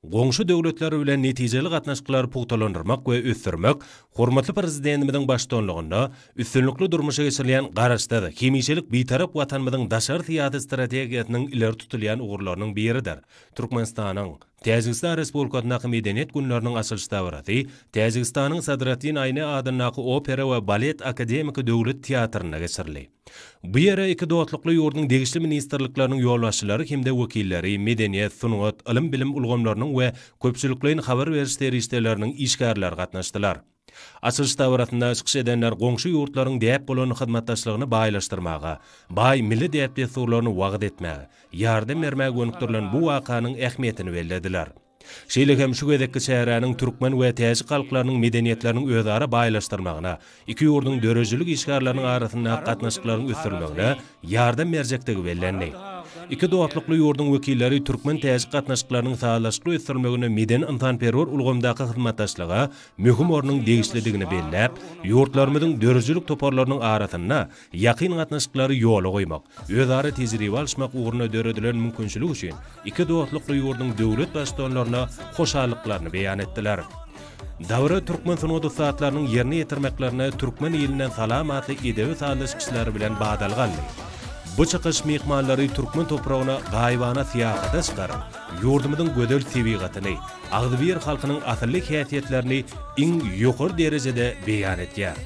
Goňşy döwletler bilen netijeli gatnaşyklary pugtalandyrmak we ösdürmek hormatly Prezidentimiziň baştutanlygynda üstünlikli durmuşa geçirilýän Garaşsyz, hemişelik Bitarap Watanymyzyň daşary syýasy strategiýasynyň ileri tutulýan ugurlarynyň biridir. Türkmenistanyň Täjigistan Respublikasyndaky Medeniýet günleriniň açylyş dabarasy Täjigistanyň Sadratdin Aýne adyndaky Opera we balet akademiki döwlet teatrynda geçirildi. Bu ýere iki dostlukly ýurduň degişli ministrlikleriniň ýolbaşçylary hem-de wekilleri, medeniýet, sungat, ylym-bilim ulgamlarynyň we köpçülikleýin habar beriş serişdeleriniň işgärleri gatnaşdylar. Açylyş dabarasynda çykyş edenler goňşy ýurtlaryň däp bolan hyzmatdaşlygyny baýlaşdyrmaga, baý milli däp-dessurlaryny wagyz etmäge, ýardam bermäge gönükdirilen bu wakanyň ähmiýetini bellediler. Şeýle hem şu gezekki çäräniň türkmen we täjik halklarynyň medeniýetleriniň özara baýlaşdyrmagyna, iki ýurduň döredijilik işgärleriniň arasyndaky gatnaşyklaryň ösdürilmegine ýardam berjekdigi bellendi. Iki dostlukly ýurduň wekilleri türkmen-täjik gatnaşyklarynyň sazlaşykly ösdürilmeginde medeni-ynsanperwer ulgamdaky hyzmatdaşlyga möhüm ornuň degişlidigini belläp, ýurtlarymyzyň döredijilik toparlarynyň arasynda Ýakyn gatnaşyklary ýola goýmak, özara tejribe alyşmak ugrunda döredilen mümkinçilik üçin iki dostlukly ýurduň döwlet Baştutanlaryna hoşallyklaryny beýan etdiler. Dabara türkmen sungat ussatlarynyň ýerine ýetirmeklerine Türkmen ilinden salam atly edebi sazlaş çykyşlary bilen badalga alny. Bu çykyş myhmanlary türkmen topragyna gaýybana syýahata çykaryp, ýurdumyzyň gözel tebigatyny, agzybir halkynyň asylly häsiýetlerini iň ýokary derejede beýan etýär.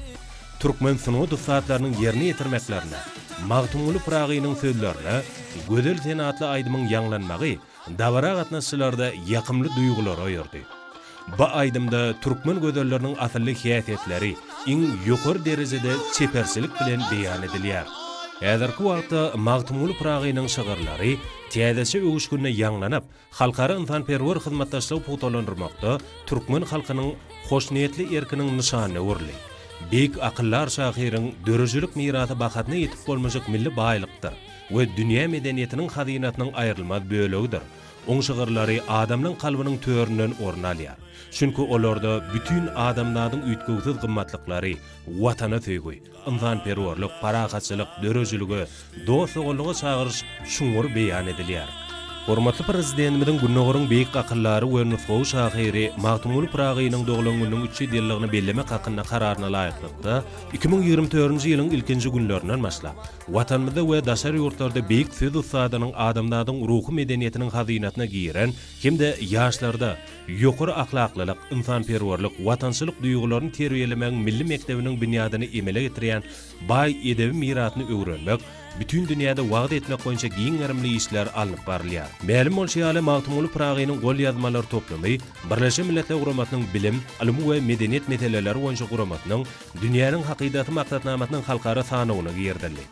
Türkmen sungat ussatlarynyň ýerine ýetirmeklerinde Magtymguly Pyragynyň sözlerine Gözel sen atly aýdymyň ýaňlanmagy dabara gatnaşyjylarda ýakymly duýgulary oýardy. Bu aýdymda türkmen gözelleriniň asylly häsiýetleri iň ýokary derejede çeperçilik bilen beýan edilýär. Häzirki wagtda Magtymguly Pyragynyň şygyrlary täzeçe öwüşginde ýaňlanyp, Halkara ynsanperwer hyzmatdaşlygy pugtalandyrmakda türkmen halkynyň hoşniýetli erkiniň nyşanyna öwrüldi. Beýik akyldar şahyryň döredijilik mirasy bahasyna ýetip bolmajak milli baýlykdyr we dünýä medeniýetiniň hazynasynyň aýrylmaz bölegidir. Oň şygyrlary adamlaň kalbynyň töründen orun alýar. Çünki olarda bütin adamzadyň üýtgewsiz gymmatlyklary, Watana söýgi, ynsanperwerlik, parahatçylyk, döredijilige, dost-doganlyga çagyryş çuňňur beýan edilýär. Hormatly Prezidentimiziň Gündogaryň beýik akyldary we nusgawy şahyry Magtymguly Pyragynyň doglan gününiň üç ýüz ýyllygyny bellemek hakynda Kararyna laýyklykda, iki müň ýigrimi dördünji ýylyň ilkinji günlerinden başlap, Watanymyzda we daşary ýurtlarda beýik söz ussadynyň adamzadyň ruhy medeniýetiniň hazynasyna giren hem-de ýaşlarda, Ýokary ahlaklylyk, ynsanperwerlik, watançylyk duýgularyny terbiýelemegiň milli mekdebiniň binýadyny emele getirýän baý edebi mirasyny öwrenmek, bütin dünýäde wagyz etmek boýunça giň gerimli işler alnyp barylýar. Mälim bolşy ýaly, Magtymguly Pyragynyň golýazmalar toplumy Birleşen Milletler Guramasynyň Bilim, ylym we medeniýet meseleleri boýunça guramasynyň Dünýäniň hakydasy maksatnamasynyň halkara sanawyna girizildi.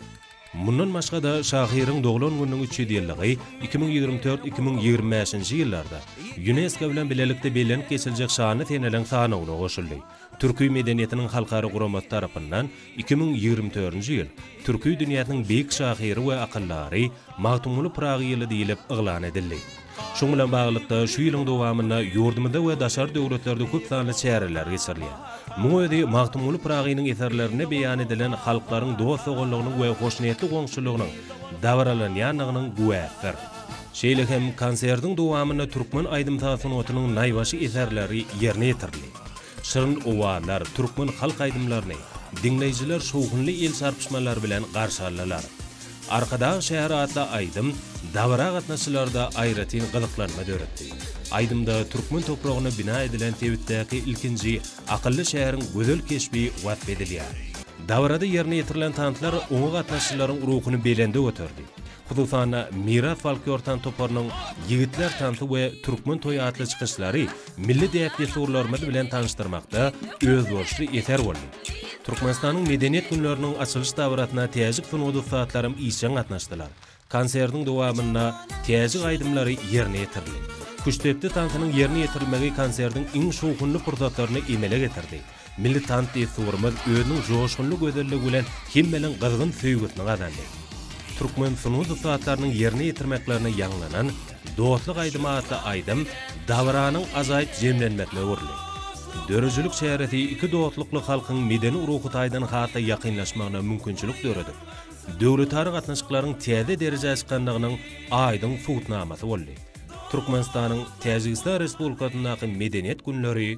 Mundan başga-da, şahyryň doglan gününiň üç ýüz ýyllygy, iki müň ýigrimi dört, iki müň ýigrimi bäşinji ýyllarda Ýunesko bilen bilelikde bellenip geçiljek şanly seneleriň sanawyna goşuldy. Türki medeniýetiniň halkara guramasy tarapyndan iki müň ýigrimi dördünji ýyl Türki dünýäsiniň beýik şahyry we akyldary Magtymguly Pyragy ýyly diýlip yglan edildi. Şunuň bilen baglylykda, şu ýylyň dowamynda ýurdumyzda we daşary döwletlerde köp sanly çäreler geçirilýär. Muň özi Magtymguly Pyragynyň eserlerinde beýan edilen halklaryň dost-doganlygynyň we hoşniýetli goňşuçylygynyň dabaralanýandygynyň güwäsidir. Şeýle hem konsertiň dowamynda türkmen aýdym-saz sungatynyň naýbaşy eserleri ýerine ýetirildi. Şirin owazlar, türkmen halk aýdymlaryny diňleýjiler şowhunly el çarpyşmalar bilen garşy aldylar. Arkadag şäher atly aýdym dabara gatnaşyjylarda aýratyn gyzyklanma döretdi. Aýdymda türkmen topragyna bina edilen sebitdäki ilkinji akylly şäheriň gözel keşbi wasp edilýär. Dabarada ýerine ýetirilen tanslar oňa gatnaşyjylaryň ruhuny belende göterdi. Hususan-da, Miras folklor tans toparynyň Ýigitler tansy we Türkmen toýy atly çykyşlary milli däp-dessurlarymyz bilen tanyşdyrmakda özboluşly eser boldy. Türkmenistanyň Medeniýet günleriniň açylyş dabarasyna täjik sungat ussatlarym işjeň gatnaşdylar. Konsertiň dowamynda täjik aýdymlary ýerine ýetirildi. Küştdepdi tansynyň ýerine ýetirilmegi konsertiň iň şowhunly pursatlaryny emele getirdi. Milli tans dessurymyz özüniň joşgunly gözelligi bilen hemmäniň gyzgyn söýgüsini gazandy. Türkmen sungat ussatlarynyň ýerine ýetirmeklerine ýaňlanan Dostluk aýdymy atly aýdym dabaranyň ajaýyp jemlenmesine öwrüldi. Döredijilik çäresi iki dostlukly halkyň medeni ruhy taýdan has-da ýakynlaşmagyna mümkinçilik döredip, döwletara gatnaşyklaryň täze derejä çykandygynyň aýdyň subutnamasy boldy. Türkmenistanyň Täjigistan Respublikasyndaky Medeniýet günleri